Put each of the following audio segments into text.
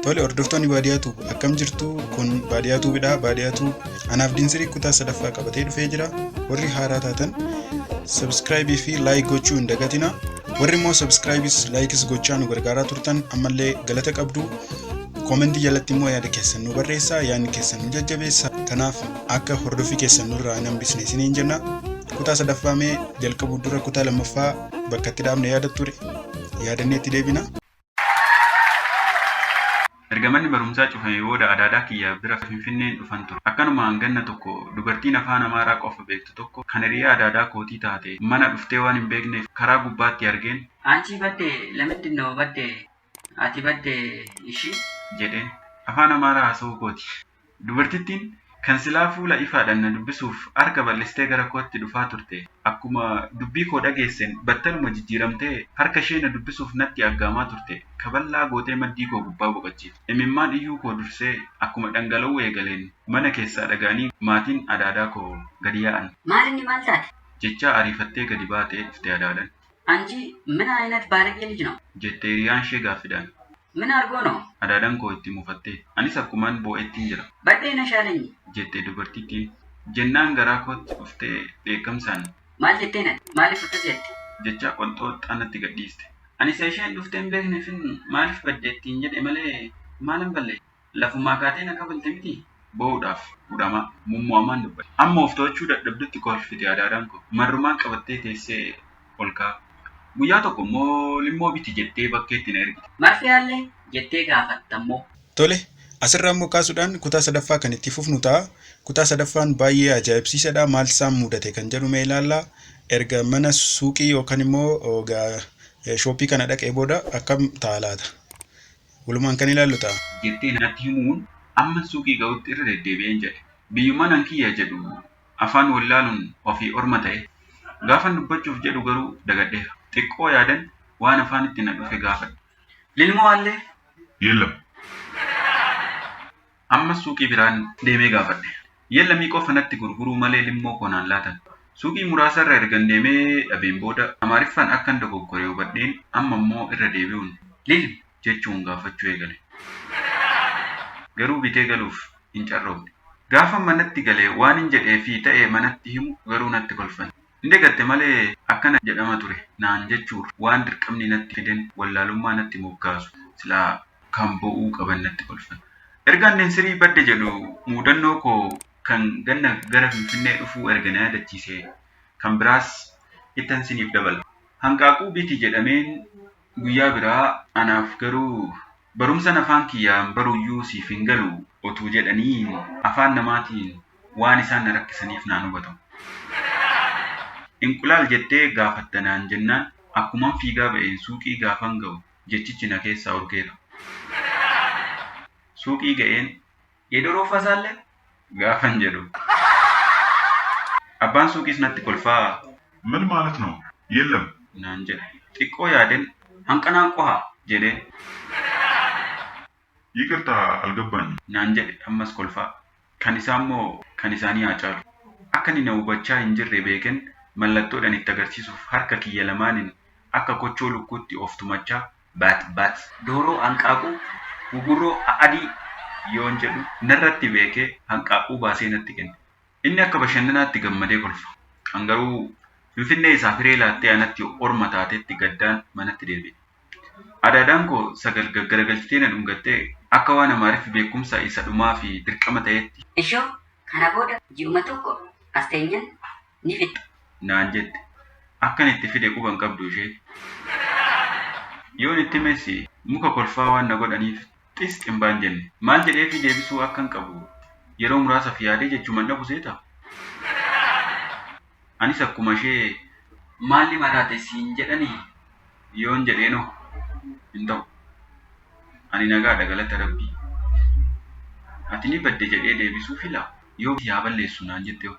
Tole hordoftoonni baadiyaa tuub akkam jirtu kun baadiyaa tuubidha baadiyaa tuub anaaf dinsirii kutaa sadaffaa qabatee dhufee jira warri haaraa taatan sabskraayibii fi laayik gochuu hin dagatina warri immoo sabskraayibiis laayikis gochaa nu gargaaraa turtan ammallee galata qabdu koomentii jalatti immoo yaada keessan nu barreessaa yaadni keessan nu jajjabeessa kanaaf akka hordofii keessan nurraa hin hambisne isiniin jenna kutaa sadaffaa mee jalqabuu dura kutaa lammaffaa bakka itti dhaabne yaada ture yaadannee itti deebina. Erga manni barumsaa cufamee booda adaadaa kiyya bira Finfinneen dhufan ture. Akkanumaan ganna tokko dubartiin afaan Amaaraa qofa beektu tokko kan hiriyaa adaadaa kootii taate mana dhuftee waan hin beekneef karaa gubbaatti argeen. Anchii badde lamiddinnoo badde ati badde ishii? jedheen. Afaan Amaaraa haasa'uu kooti. Dubartittiin kan silaa fuula ifaadhaan na dubbisuuf harka bal'istee gara kootti dhufaa turte, akkuma dubbii koo dhageesseen battaluma jijjiiramtee harka ishee na dubbisuuf natti aggaamaa turte kaballaa gootee maddii koo gubbaa boqachiifte. Imimmaan iyyuu koo dursee akkuma dhangala'uu eegaleen mana keessaa dhaga'anii maatiin adaadaa koo gadi yaa'an. Maal inni maal taate? jechaa ariifattee gadi baatee dhufte adaadaan. Anchi min ayinat baalagee lij no. Jette hiriyaan ishee gaaffidhaan. Min argoo no. Adaadan koo itti mufattee. Anis akkuman boo'ettin jira. Badhee na shaalenyi. Jette dubartittiin. Jennaan garaa kootti dhuftee dheekkamsaan. Maal jettee nati? Maaliif akkas jette? Jechaa qonxooxxaa natti gadhiiste. Ani isa isheen dhuftee hin beekneefin maaliif badde ittiin jedhe malee maalan balleesse? Lafumaa kaatee na kafalte mitii? Boo'uudhaaf hudhamaa, mummo'amaan dubbatte. Amma of to'achuu dadhabdutti kolfite Adaadaan koo. Marrumaan qabattee teessee ol ka'a. Guyyaa tokko immoo limmoo biti jettee bakkeetti na ergite. Marfee haallee? jettee gaafatta immoo. Tole, asirraa immoo kaasuudhaan kutaa sadaffaa kan itti fufnu ta'a. Kutaa sadaffaan baay'ee ajaa'ibsiisadha. Maaltu isaan mudate kan jedhu mee ilaalla. Erga mana suuqii yookaan immoo shooppii kana dhaqee booda akkam ta'a laata? walumaan kan ilaallu ta'a. jettee natti himuun amman suuqii ga'utti irra deddeebi'een jedhe. Biyyummaan an kiyya jedhu afaan wallaaluun ofii orma ta'e. Gaafan dubbachuuf jedhu garuu dagadheera. Xiqqoo yaadan waan afaanitti na dhufe gaafadhe. Lilmoo allee? Yellam. Ammas suuqii biraan deemee gaafadhe. Yellamii qofa natti gurguruu malee limmoo koo naan laatan. Suuqii muraasa irra ergan deemee dhabeen booda Amaariffaan akkan dogoggore hubadheen amma immoo irra deebi'uun Lilm? jechuun gaafachuu eegale. Garuu bitee galuuf hin carroomne. Gaafan manatti gale waanin jedhee fi ta'e manatti himu garuu natti kolfan. Ni dagatte malee akkana jedhama ture naan jechuurra waan dirqamni natti fiden wallaalummaa natti moggaasu silaa kan bo'uu qaban natti kolfan. Erga annin sirii badde jedhu muudannoo koo kan ganna gara Finfinnee dhufuu erga na yaadachiisee kan biraas ittan siniif dabala. Hanqaaquu biti jedhameen Guyyaa biraa anaaf garuu barumsan afaan kiyyaan baruyyuu siif hin galu otuu jedhanii afaan namaatiin waan isaan na rakkisaniif naan hubatamu. Inqulaal jettee gaafatta naan jennaan akkuman fiigaa ba'een suuqii gaafan ga'u jechichi na keessaa urgeera. Suuqii ga'een Yeedoo roofaa isaallee gaafan jedhu. Abbaan suuqiis natti kolfaa. Mal maalat noo? Yellam. naan jedha. Xiqqoo yaadeen hanqanaan qoha jedheen. Yiqirta algabbaanyi. naan jedhe ammas kolfaa. Kan isaammoo kan isaanii haa caalu. Akka inni na hubachaa hin jirre beekeen mallattoodhaan itti agarsiisuuf harka kiyya lamaaniin akka kochoo lukkuutti of tumachaa bat bat. Dooroo hanqaaquu gugurroo a'adii yoon jedhu narratti beekee hanqaaquu baasee natti kenna. Inni akka bashannanaatti gammadee kolfa. An garuu Finfinnee isaaf hiree laattee anatti orma taatetti gaddaan manatti deebi'e. Adaadaan koo Sagal gaggaragalchitee na dhungattee akka waan Amaariffi beekumsa isa dhumaafi dirqama ta'eetti. Ishoo kana booda ji'uma tokko as teenyaan ni fixxa naan jette. Akkan itti fide quba hin qabdu isheen. Yoon itti himes muka kolfaa waan na godhaniif xis xinbaa hin jenne. Maal jedheefii deebisuu akkan qabu yeroo muraasaf yaadee jechuman dhabu seeta. Anis akkuma ishee maalli maraate siin jedhani yoon jedheenoo hin ta'u. Ani nagaadha galata rabbii. Ati ni badde jedhee deebisuu fila yoo si haa balleessu naan jettehoo.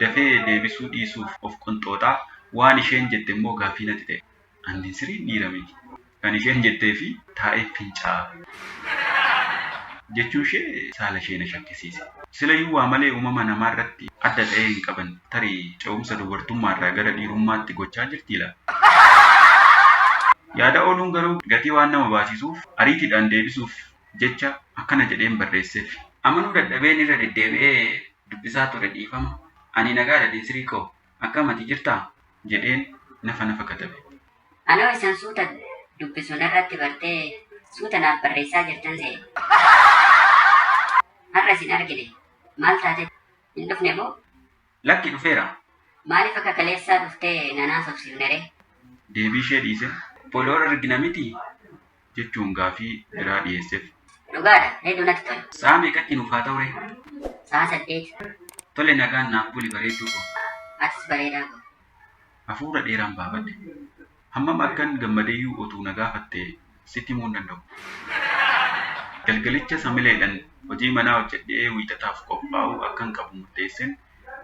dafee deebisuu dhiisuuf of qonxooxa, waan isheen jette immoo gaaffii natti ta'e. Andiin siriin dhiira miti. Kan isheen jetteefi taa'een fincaa'a. jechuun ishee saala ishee na shakkisiise. Silayyuu waa malee uumama namaa irratti adda ta'ee hin qaban. Tarii ce'umsa dubartummaa irraa gara dhiirummaatti gochaa jirtii laata? Yaada ooluun garuu gatii waan nama baasisuuf ariitiidhaan deebisuuf jecha akkana jedheen barreesseef. Amanuu dadhabeen irra deddeebi'ee dubbisaa ture dhiifama Ani nagaadha dinsrii koo akkam ati jirtaa? jedheen nafa nafa katabe. Anoo isan suuta dubbisu narratti bartee suuta naaf barreessaa jirtan se'e. Har'a isin argine maal taate hin dhufne moo? Lakki dhufeera. Maaliif akka kaleessaa dhuftee nan haasofsiifneree? Deebiishee dhiise. Booda wal argina mitii? jechuun gaafii biraa dhiyeessef. Dhugaadha, hedduu natti tola. Sa'a meeqatti nuuf haa ta'uree? Sa'a saddeet. Tole nagaan naaf buli bareedduu koo. Atis bareedaa koo. Hafuura dheeraan baafadhe. Hammam akkan gammadeyyuu otuu na gaafatte sitti himuu hin danda'u. Galgalichas hamileedhan hojii manaa hojjedhee Wiixataaf qophaa'uu akkan qabu murteessen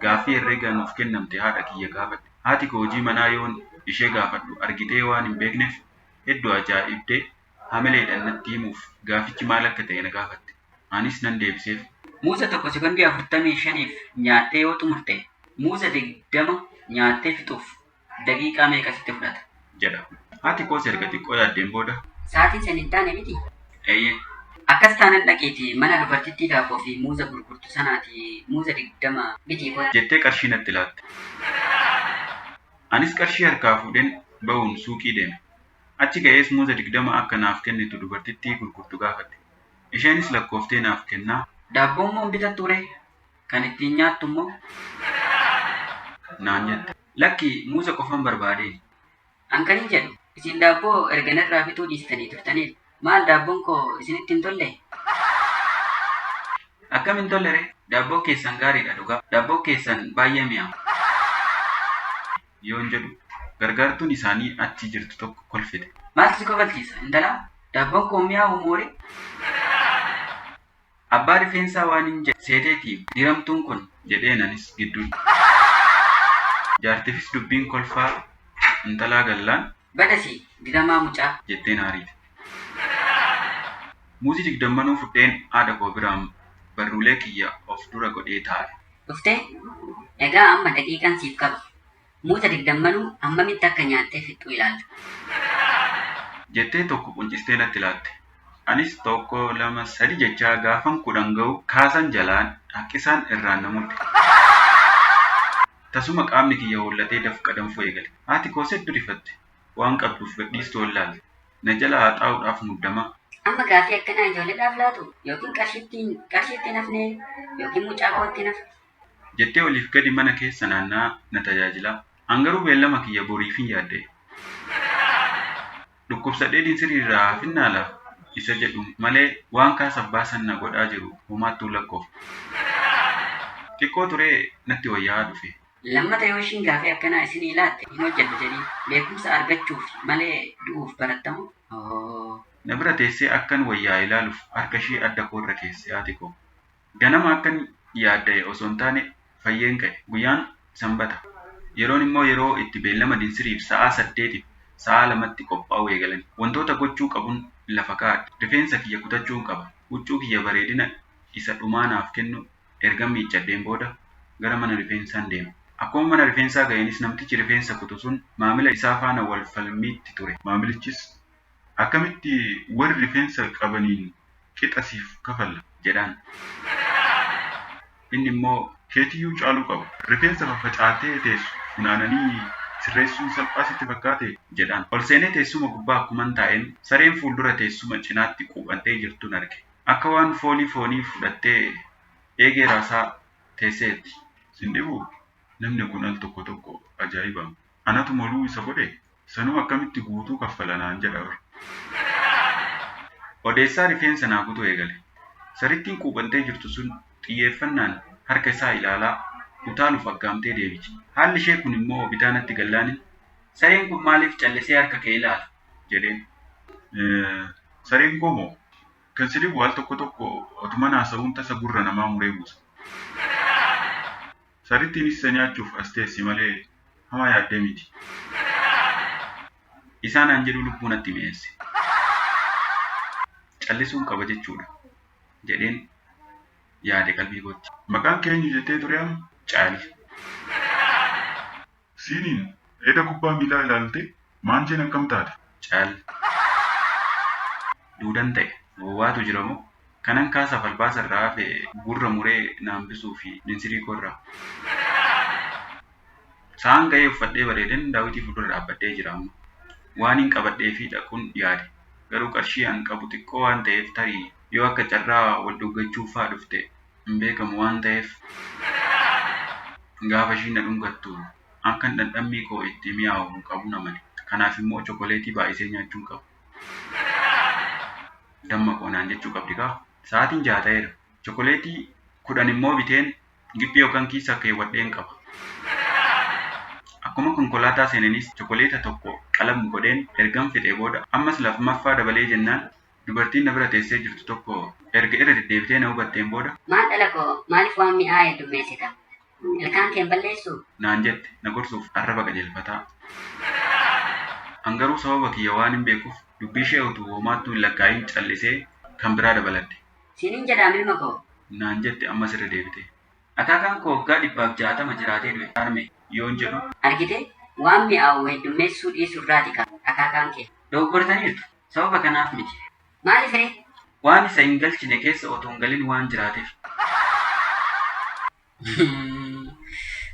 gaaffii herreega nuuf kennamte haadha kiyya gaafadhe. Haati koo hojii manaa yoon ishee gaafadhu argitee waan hin beeknef heddu ajaa'ibde hamileedhan natti himuuf gaafichi maal akka ta'e na gaafatte. Anis nan deebiseef. Muuza tokko sekondii 45f nyaattee yoo xumurte muuza 20 nyaattee fixuuf daqiiqaa meeqa sitti fudhata? jedha. Haati koos erga xiqqoo yaaddeen booda. Sa'aatiin san hin taane miti? Eeyyee. Akkas taanan dhaqiitii mana dubartittii daabboo fi muuza gurgurtu sanaatii muuza 20 bitii kottu. jettee qarshii natti laatte. Anis qarshii harkaa fuudheen ba'uun suuqii deeme. Achi ga'ees muuza 20 akka naaf kennitu dubartittii gurgurtu gaafadhe. Isheenis lakkooftee naaf kennaa. Daabboommoo hin bitattuuree? Kan ittiin nyaattummoo? naan jette. Lakki, muuza qofan barbaadee. An kanin jedhu, isin daabboo erga narraa bituu dhiistanii turtaniif Maal daabboon koo isinitti hin tolle? Akkam hin tolle ree? Daabboon keessan gaariidha dhugaa. Daabboon keessan baay'ee mi'aawa. yoon jedhu gargaartuun isaanii achi jirtu tokko kolfite. Maaltu si kofalchiisa intalaa? Daabboon koo mi'aawu mooree? Abbaa rifeensaa waanin jedhe seeteeti diramtuun kun jedheen anis gidduun. Jaartifis dubbiin kolfaa intalaa gallaan. Bada sii diramaa mucaa. jettee na ariite. Muuzii digdammanuu fudheen haadha koo biraan barruulee kiyya of dura godhee taa'e. Dhuftee? Egaa amma daqiiqaan siif qaba. Muuza digdammanuu hammamitti akka nyaattee fixxu ilaalta. jettee tokko quncistee natti laatte. Anis tokko, lama, sadi jechaa gaafan kudhan ga'u kaasan jalaan, haqqisaan irraan na mudde. Tasuma qaamni kiyya hoollatee dafqa danfuu eegale. Haati koos heddu rifatte. Waan qabduuf gadhiistu ol laalte. Na jalaa haxaa'uudhaaf muddamaa. Amma gaaffii akkanaa ijoolledhaaf laatuu? Yookiin qarshiitti hin hafnee? Yookiin mucaa kootti hin hafnee? jettee oliif gadi mana keessa naanna'aa na tajaajilaa. An garuu beellama kiyya boriifin yaadda'e. Dhukkubsadheetiin siriirraa hafinnaa laa? isa jedhu malee waan kaas abbaa san na godhaa jiru homaattuu lakkoofne. Xiqqoo turee natti wayyaa'aa dhufe. Lammata yoo ishiin gaafii akkanaa isinii laatte hin hojjadhu jedhii. Beekumsa argachuuf malee du'uuf barattamoo? Ohoo. Na bira teessee akkan wayyaa'e laaluuf harkashii adda koorra keessi haati koo. Ganama akkan yaadda'e osoo hin taane fayyeen ka'e. Guyyaan Sanbata. Yeroon immoo yeroo itti beellama dinsiriif sa'aa saddeetiif sa'aa lamatti qophaa'uu eegalani. Wantoota gochuu qabun lafa kaa'adhe. Rifeensa kiyya kutachuun qaba. Huccuu kiyya bareedina isa dhumaa naaf kennu ergan miiccadheen booda gara mana rifeensaan deeme. Akkuma mana rifeensaa ga'eenis namtichi rifeensa kutu sun maamila isaa faana wal falmiitti ture. Maamilichis Akkamitti warri rifeensa qabaniin qixa siif kafalla? jedhaan. Inni immoo, Keetiyyuu caaluu qaba. Rifeensa faffacaatee teessu funaananii sirreessuun salphaa sitti fakkaatee? jedhaan. Ol seenee teessuma gubbaa akkuman taa'een, sareen fuuldura teessuma cinaatti quuphantee jirtun arge. Akka waan foolii foonii fudhattee eegee raasaa teesseetti. Sin dhibuu? Namni kun al tokko tokko ajaa'ibama. Anatu moluu isa godhee? Sanuu akkamitti guutuu kaffala naan jedha bar. Odeessaa rifeensa naa kutuu eegale. Sarittiin quuphantee jirtu sun xiyyeeffannaan harka isaa ilaalaa utaaluuf aggaamtee deebiti. Haalli ishee kun immoo bitaa natti gallaanin, Sareen kun maaliif callisee harka kee ilaala? jedheen. Sareen koo moo? Kan si dhibu al tokko tokko otuman haasa'uun tasa gurra namaa muree buusa. Sarrittiin isa nyaachuuf as teessi malee homaa yaaddee miti. Isaa naan jedhuu lubbuu natti mi'eesse. Callisuun qaba jechuudha jedheen yaade qalbii kootti. Maqaan kee eenyu jettee ture amma? Caali. Siiniin eda kubbaa miilaa ilaalte maancheen akkam taate? Cal. Duudan ta'e. Boba'atu jira moo? Kanan kaasaaf albaasa irraa hafe gurra muree na hambisuuf minsirii koo irraa. Sa'aan ga'ee uffadhee bareeden Daawitii fuuldura dhaabbadhee jira amma. Waaniin qabadheefii dhaqun yaade. Garuu qarshii an qabu xiqqoo waan ta'eef tarii yoo akka carraa wal dhuggachuuf faa dhufte hin beekamu waan ta'eef gaafa ishiin na dhungattu akkan dhandhammii koo itti mi'aawu hin qabu na male. Kanaaf immoo chokoleetii baay'isee nyaachuu hin qabu. Damma koo naan jechuu qabdi kaa. Sa'aatiin jaha ta'eera. Chokoleetii kudhan immoo biteen giphii yookaan kiisa keewwadheen qaba. Akkuma konkolaataa seenenis chokoleeta tokko qalam godheen ergan fixee booda ammas lafmaffaa dabalee jennaan Dubartiin na bira teessee jirtu tokko erga irra deddeebitee na hubatteen booda. Maal dhala koo, maaliif waan mi'aa heddummeessita? Ilkaan kee hin balleessuu? naan jette na gorsuuf arraba qajeelfataa. An garuu sababa kiyya waanin beekuuf dubbiishee utuu homaattuu hin lakkaa'iin callisee kan biraa dabalatte. Siinin jedhaam ilma koo. naan jette ammas irra deebitee. Akaakaan koo waggaa dhibbaaf jaatama jiraatee du'e harme yoon jedhu. Argitee? Waan mi'aawu heddummeessuu dhiisurraati ka akaakaan kee. Dogogortaniirtu. Sababa kanaaf miti. Maaliif ree? Waan isa hin galchine keessa otoo hin galin waan jiraateef.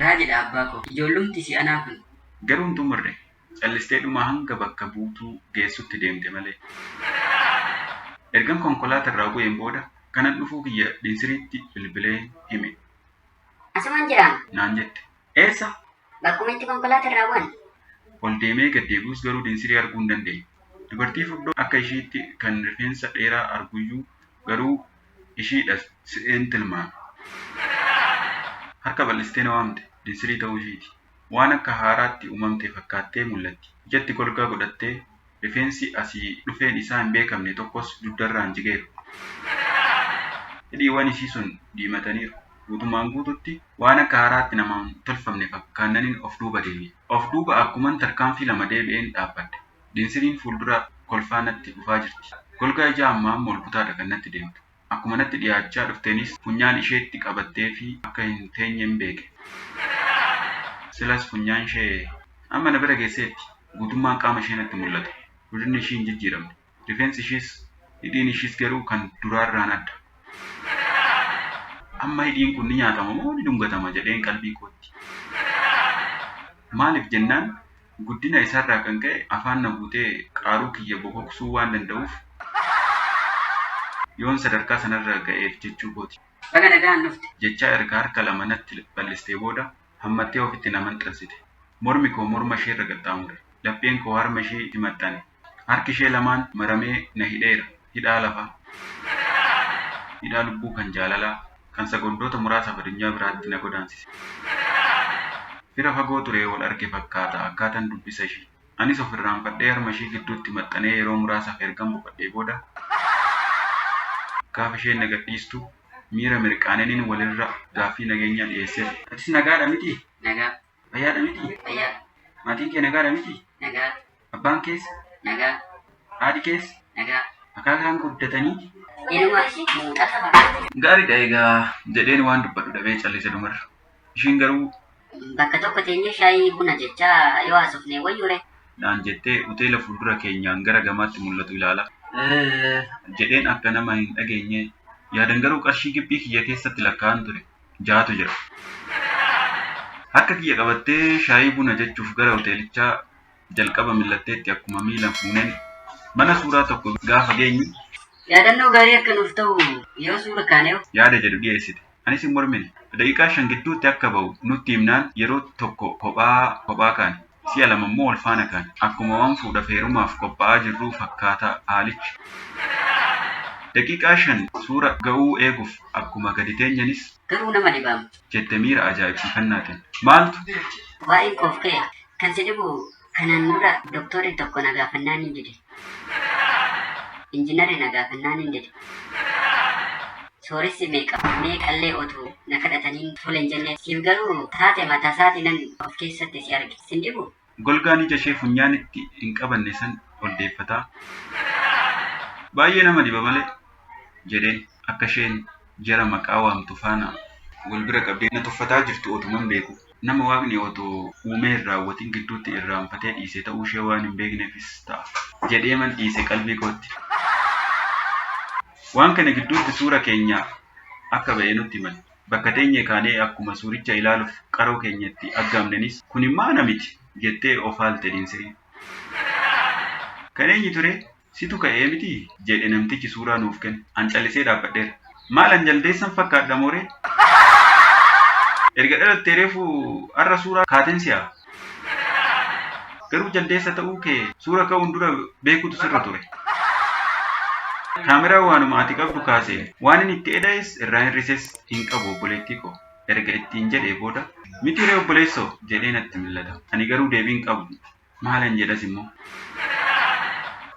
Raajidha abbaa koo. Ijoollumti si anaa kun. Garuu hin xumurre. Callistee dhuma hanga bakka buutuu geessutti deemte malee. Ergan konkolaata irraa bu'een booda kanan dhufuu kiyya Dinsiriitti bilbileen hime. Asuman jiraam. Naan jette. Eessa? Bakkuma itti konkolaata irraa bu'an. Ol deemee gad deebi'us garuu Dinsirii arguu hin dandeenye. Dubartii furdoo akka ishiitti kan rifeensa dheeraa arguyyuu garuu ishiidha se'een tilmaame. Harka bal'istee na waamte. Dinsirii ta'uu ishiiti. Waan akka haaraatti uumamte fakkaattee mul'atti. Ijatti golgaa godhattee Rifeensi asii dhufeen isaa hin beekamne tokkos dugdarraan jigeera. Hidhiiwwan isii sun diimataniiru. Guutumaan guututti waan akka haaraatti namaan tolfamne fakkaannanin of duuba deebi'e. Of duuba akkuman tarkaanfii lama deebi'een dhaabbadhe. Dinsiriin fuuldura kolfaa natti dhufaa jirti. Golgaa ijaa ammaammoo olkutaadha kan natti deemtu. Akkuma natti dhiyaachaa dhufteenis funyaan isheetti qabatteefii akka hin teenyen beeke. Silas funyaanshee amma na bira geesseetti. Guutummaan qaama ishee natti mul'ata. Godinni ishii hin jijjiiramne. Rifeensi ishiis, hidhiin ishiis garuu kan duraarraan adda. Amma hidhiin kun ni nyaatama moo ni dhungatama jedheen qalbii kootti. Maaliif jennaan guddina isaarraa kan ka'e afaan na guutee qaaruu kiyya bokoksuu waan danda'uuf yoon sadarkaa sanarra ga'eef jechuu kooti. Baga nagaan dhufte! jechaa erga harka lama natti bal'istee booda hammattee ofitti na maxxansite. Mormi koo morma isheerra qaxxaamure. Lapheen koo harma isheetti maxxane. Harki ishee lamaan maramee na hidheera, hidhaa lafaa, hidhaa lubbuu kan jaalalaa, kan sekondoota muraasaaf adunyaa biraatti na godaansise. Fira fagoo ture wal arge fakkaata akkaatan dubbisa ishii. Anis of irraanfadhee harma ishii gidduutti maxxanee yeroo muraasaaf ergan boqadhee booda, gaafa isheen na gadhiistu miira mirqaaneenin walirra gaaffii nageenyaa dhiyeesseef. Atis nagaadha mitii? Nagaa. Fayyaadha miti? Fayyaa. Maatiin kee nagaadha miti? Nagaa. Abbaan kees? Nagaa. Haadhi kees? Nagaa. Akaakaan guddatanii? Inuma muuxata fakkaata. Gaariidha egaa jedheen waan dubbadhu dhabee callise dhumarra. Ishiin garuu Bakka tokko teenyee shaayii buna jechaa yoo haasofne wayyure. naan jettee hoteela fuuldura keenyaan gara gamaatti mul'atu ilaala. Jedheen akka nama hin dhageenye yaadan garuu qarshii gibbii kiyya keessatti lakkaa'an ture. ja'atu jira. Harka kiyya qabattee shaayii buna jechuuf gara hoteelichaa jalqaba mil'atteetti akkuma miilan fuuneen mana suuraa tokko gaafa geenyu. Yaadannoo gaarii akka nuuf ta'u yoo suura kaanehoo? Yaada jedhu dhiyeessite. Anis hin mormine. Daqiiqaa shan gidduutti akka ba'u nutti himnaan yeroo tokko kophaa kophaa kaane. si'a lama immoo wal faana kaane. Akkuma waan fuudhaf heerumaaf qophaa'aa jirruu fakkaata haalichi. Daqiiqaa shan suura ga'uu eeguf akkuma gadi teenyanis. Garuu nama dhibaa miti. jette miira ajaa'ibsiifannaatin. Maaltu. Waa'een koof ka'e? Kan si dhibu kanaan dura doktoorri tokko na gaafannaanin dide. Injinarri na gaafannaan hin dide. Sooressi meeqa meeqallee otuu na kadhataniin tole hin jenne. Siif garuu taate mataasaatii nan of keessatti si arge. Sin dhibu? Golgaan ija ishee funyaan itti hin qabanne san ol deeffataa, Baay'ee nama dhiba malee, jedheen akka isheen jara maqaa waamtu faana wal bira qabdee na tuffataa jirtu otuman beekuu. nama Waaqni otoo uumee hin raawwatin gidduutti irraanfatee dhiise ta'uu ishee waan hin beekneefis ta'a. jedheeman dhiise qalbii kootti. Waan kana gidduutti suura keenya akka ba'e nutti himani. Bakka teenyee kaanee akkuma suuricha ilaaluuf qaroo keenya itti aggaamnenis kunimmaa ana miti! jettee of haalte Dinsiriin. Kan eenyu turee? Situ ka'ee mitii? jedhe namtichi suuraa nuuf kenne. An callisee dhaabbadheera. Maal an jaldeessan fakkaadha moo ree? Erga dhalattee reefu har'a suuraa kaateen si haa? Garuu jaldeessa ta'uu kee suura ka'uun dura beekuutu sirra ture. Kaameraan waanuma ati qabdu kaaseen. Waanin itti eda'es irraa hir'ises hin qabu obboleettii koo. Erga ittiin jedhee booda. Miti ree obboleessoo? jedhee natti millata. Ani garuu deebii hin qabu. Maalan jedhas immoo?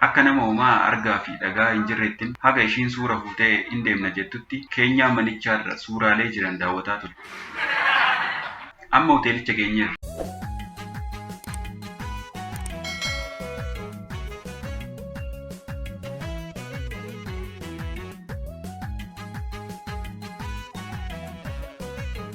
Akka nama homaa argaa fi dhaga'aa hin jirreettin haga ishiin suura fuutee in deemna jettutti keenyaa manichaa irra suuraalee jiran daawwataa ture. Amma hoteelicha geenyeerra.